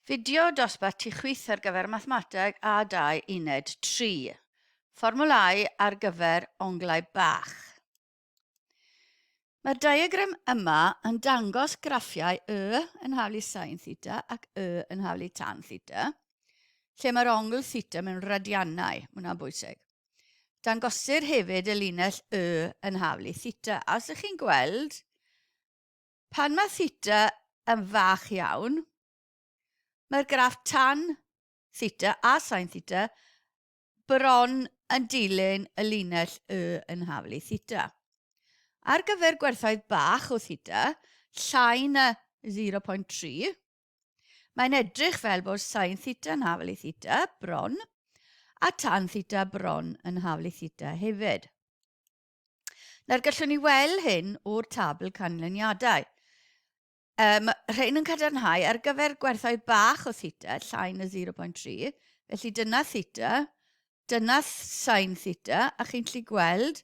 Fideo dosbarth tu chwyth ar gyfer Mathemateg A2 Uned 3. Fformwlâu ar gyfer onglau bach. Mae'r diagram yma yn dangos graffiau y yn haflu sin theta ac y yn haflu tan theta, lle mae'r ongl theta mewn radiannau, mae hwnna'n bwysig. Dangosir hefyd y linell y yn haflu theta, a os ych chi'n gweld, Pan mae theta yn fach iawn, mae'r graff tan theta a sain theta bron yn dilyn y linell Y yn haflu theta. Ar gyfer gwerthoedd bach o theta, llai na 0.3, mae'n edrych fel bod sain theta yn haflu theta bron a tan theta bron yn haflu theta hefyd. Nawr gallwn ni weld hyn o'r tabl canlyniadau. Um, rhain yn cadarnhau ar gyfer gwerthau bach o theta, llai na 0.3, felly dyna theta, dyna sain theta, a chi'n lli gweld,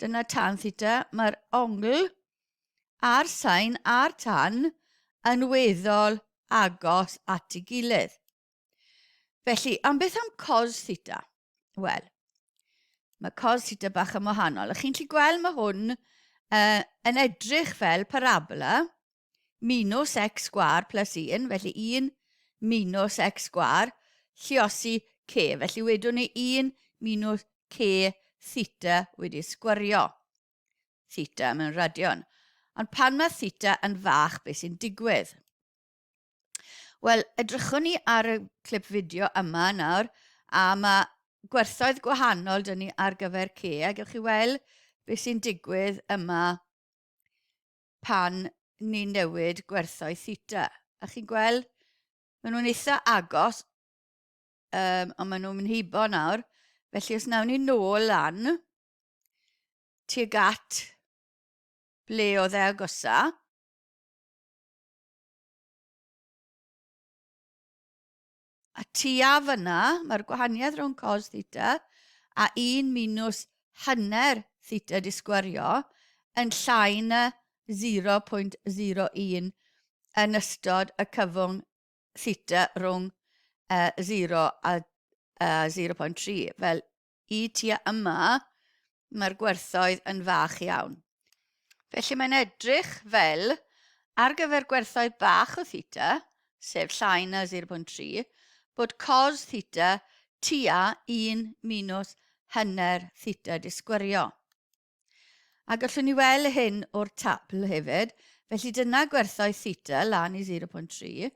dyna tan theta, mae'r ongl a'r sain a'r tan yn weddol agos at ei gilydd. Felly, am beth am cos theta? Wel, mae cos theta bach yn wahanol. A chi'n gallu gweld mae hwn uh, yn edrych fel parabola minus x gwar plus 1, felly 1 minus x gwar, lliosi c. Felly wedwn ni 1 minus c theta wedi sgwario theta mewn radion. Ond pan mae theta yn fach, beth sy'n digwydd? Wel, edrychwn ni ar y clip fideo yma nawr, a mae gwerthoedd gwahanol dyn ni ar gyfer ce, a gewch chi weld beth sy'n digwydd yma pan ni'n newid gwerthoedd theta. A chi'n gweld, maen nhw'n eitha agos, um, ond maen nhw'n mynd hibo nawr. Felly os nawn ni nôl lan, tuag at ble oedd e agosa, A tua fyna, mae'r gwahaniaeth rhwng cos theta a 1 minus hanner theta disgwario yn llai na 0.01 yn ystod y cyfwng theta rhwng uh, 0 a uh, 0.3, fel i tua yma, mae'r gwerthoedd yn fach iawn. Felly mae'n edrych fel, ar gyfer gwerthoedd bach o theta, sef llai na 0.3, bod cos theta tua 1 minus hanner theta disgwyrio. A gallwn ni weld hyn o'r tabl hefyd. Felly dyna gwerthoedd theta lan i 0.3,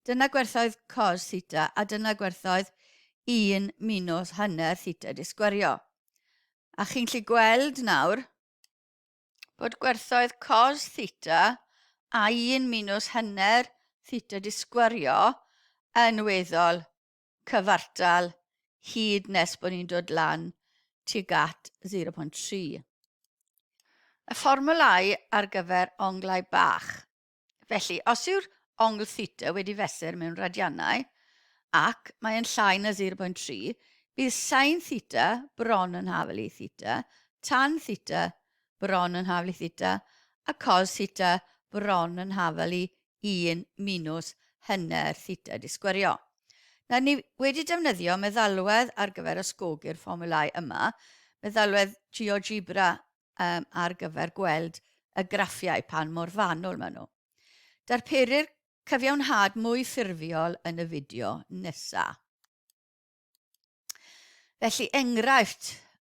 dyna gwerthoedd cos theta a dyna gwerthoedd 1 minus hanner theta di sgwerio. A chi'n gallu gweld nawr bod gwerthoedd cos theta a 1 minus hanner theta di sgwerio yn weddol cyfartal hyd nes bod ni'n dod lan tuag at 0.3. Y fformwlau ar gyfer onglau bach. Felly, os yw'r ongl theta wedi fesur mewn radianau, ac mae yn llai na 0.3, bydd sain theta bron yn hafel i theta, tan theta bron yn hafel i theta, a cos theta bron yn hafel i un minws hynna'r llidiau disgwyrio. Nawr ni wedi defnyddio meddalwedd ar gyfer ysgogi'r fformiwlau yma, meddalwedd GeoGebra um, ar gyfer gweld y graffiau pan mor fanwl maen nhw. Darperir cyfiawnhad mwy ffurfiol yn y fideo nesaf. Felly, enghraifft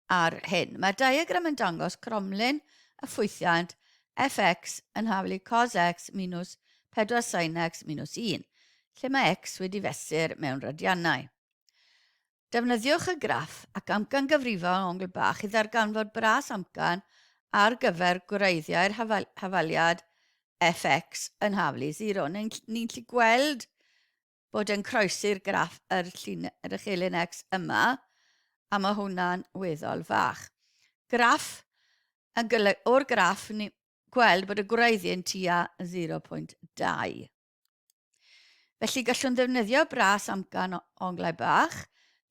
ar hyn. Mae'r diagram yn dangos cromlin y ffwythiant fx yn haflu cos x minus 4 sin x minus 1, lle mae x wedi fesur mewn radiannau. Defnyddiwch y graff ac amcan gyfrifol ongl bach i ddarganfod bras amcan ar gyfer gwreiddiau'r hafaliad fx yn haflu 0. Ni'n gallu gweld bod yn croesi'r graff yr llun yr uchelyn X yma, a mae hwnna'n weddol fach. Graff yn gyleg, o'r graff ni gweld bod y gwreiddi yn tua 0.2. Felly gallwn ddefnyddio bras amcan o onglau bach,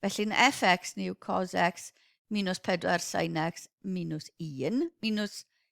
felly'n fx ni yw cos x minus 4 sin x minus 1 minus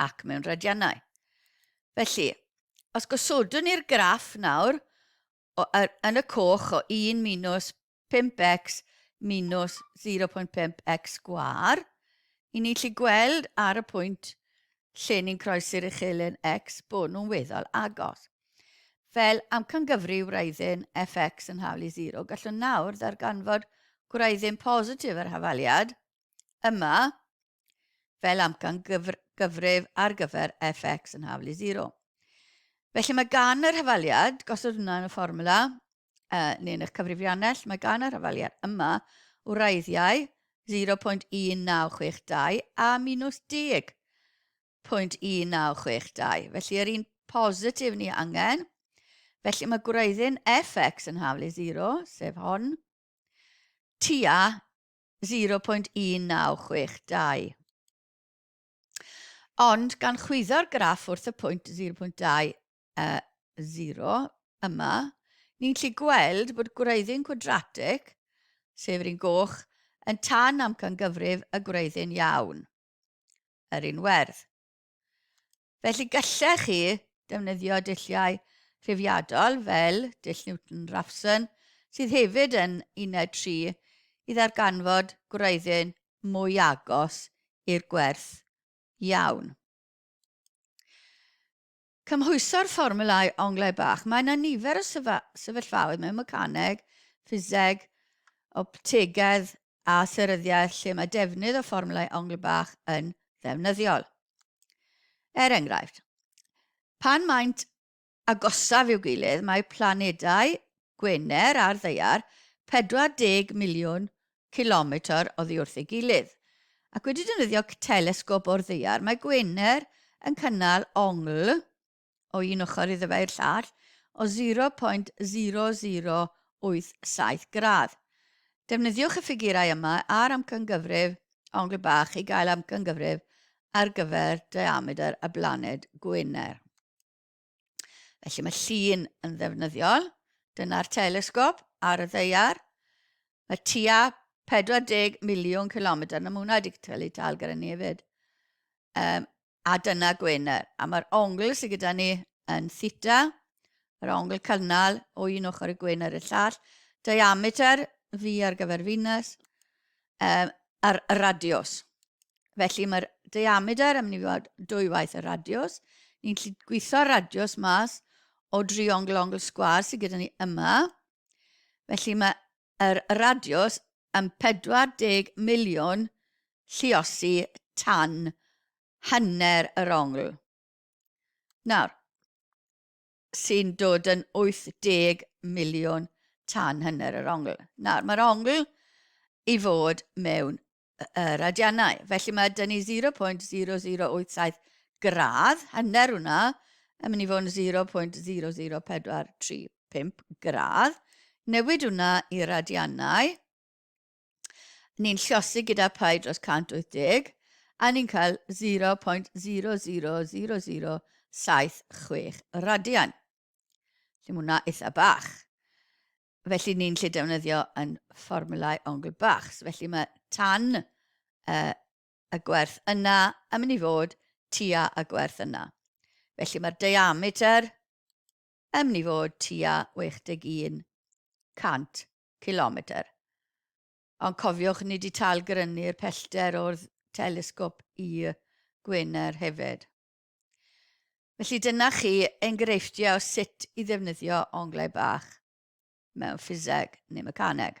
ac mewn rhadiannau. Felly, os gosodwn ni'r graff nawr o, er, yn y coch o 1 minus 5x minus 0.5x gwar, i ni lli gweld ar y pwynt lle ni'n croesi'r uchelen x bod nhw'n weddol agos. Fel amcangyfri wraiddyn fx yn hawl i 0, gallwn nawr ddarganfod gwraiddyn positif yr hafaliad yma fel amcan gyfr gyfrif ar gyfer fx yn haflu 0. Felly mae gan yr hafaliad, gosod hwnna yn y fformula, uh, neu'n eich cyfrifiannell, mae gan yr hafaliad yma wraiddiau 0.1962 a minus 10. 0.1962. Felly yr un positif ni angen. Felly mae gwreiddyn fx yn haflu 0, sef hon, tua 0.1962. Ond gan chwyddo'r graff wrth y pwynt 0.20 yma, ni'n gallu gweld bod gwreiddyn cwadratig, sef yr un goch, yn tan amcangyfrif y gwreiddyn iawn, yr un werdd. Felly gallech chi defnyddio dulliau rhifiadol fel dull Newton-Raphson, sydd hefyd yn uned 3, i ddarganfod gwreiddyn mwy agos i'r gwerth iawn. Cymhwyso'r fformulau onglau bach. Mae yna nifer o sefyllfaoedd mewn mecaneg, ffiseg, optegedd a theryddiaeth lle mae defnydd o fformwlau ongl bach yn ddefnyddiol. Er enghraifft, pan maent agosaf i'w gilydd mae planedau Gwener a'r Ddaear 40 miliwn cilometr oddi wrth ei gilydd, ac wedi defnyddio telesgop o'r Ddaear mae Gwener yn cynnal ongl o un ochr iddo fe i'r llall o 0.0087 gradd. Defnyddiwch y ffigurau yma a'r amcangyfrif Angle Bach i gael amcangyfrif ar gyfer diamedr y blaned Gwener. Felly mae llun yn ddefnyddiol. Dyna'r telesgop ar y ddeiar. Mae tua 40 miliwn kilometr, na mae hwnna wedi cael ei tal gyda ni hefyd. Um, a dyna Gwener. A mae'r ongl sydd gyda ni yn theta, yr ongl cynnal o un ochr y Gwener i'r llall, diameter fi ar gyfer Venus, um, a'r radios. Felly mae'r diameter yn mynd i fod dwy waith y radios. Ni'n lle gweithio'r radios mas o dri ongl ongl sgwar sydd gyda ni yma. Felly mae yr radiws yn 40 miliwn lluosi tan hanner yr ongl. Nawr, sy'n dod yn 80 miliwn tan hanner yr ongl. Nawr, mae'r ongl i fod mewn yr adiannau. Felly mae dyn ni 0.0087 gradd, hanner hwnna, yn mynd i fod yn 0.00435 gradd. Newid hwnna i'r adiannau. Ni'n llosi gyda pai dros 180 a ni'n cael 0.000076 radian. Felly mae hwnna eitha bach. Felly ni'n lle defnyddio yn fformulau ongl bach. So felly mae tan uh, y gwerth yna yn mynd i fod tua y gwerth yna. Felly mae'r diameter yn mynd i fod tua 61 100 km. Ond cofiwch, ni wedi talgrynnu'r pellter o'r telesgop i Gwener hefyd. Felly dyna chi enghreifftiau o sut i ddefnyddio onglau bach mewn ffiseg neu mecaneg.